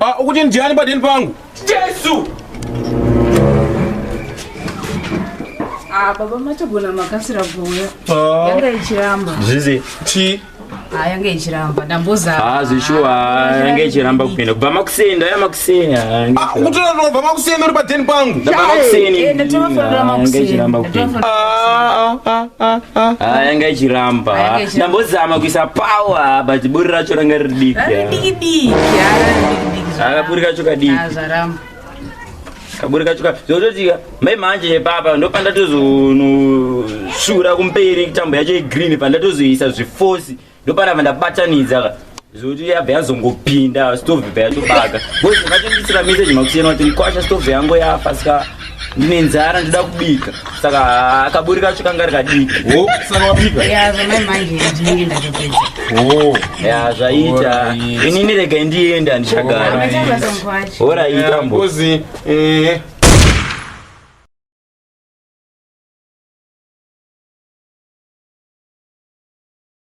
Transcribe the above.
Ah, ukuti ndiani padeni pangu jesu ah, baba matogona makasira kuuya ah. yanga ichiramba zvizi ti yange ichiramba ndambozaazi shuwa yange ichiramba kupinda kubva makuseni ndaya makuseni kutora ndobva makuseni uri padeni pangu ndabva makuseniyanga ichiramba ndambozama kuisa power but buri racho ranga riri diki akapuri kacho kadiki kaburi kacho ka zvototika mai manje nepapa ndopandatozonosvura kumberi tambo yacho yegreen pandatozoisa zvifosi ndopanava ndabatanidza ka zoti yabva yazongopinda stove bva yatobaka bcause vakandisira message makusiyana kuti ndikwasha stove yangu yafa ska ndine nzara ndida kubika saka akaburi kacho kanga rikadii oh, saka wapika ya zvamai manje ndinenge ndatopedza oh. ya zvaita ini nirega ndienda handichagara horaita mbozi eh.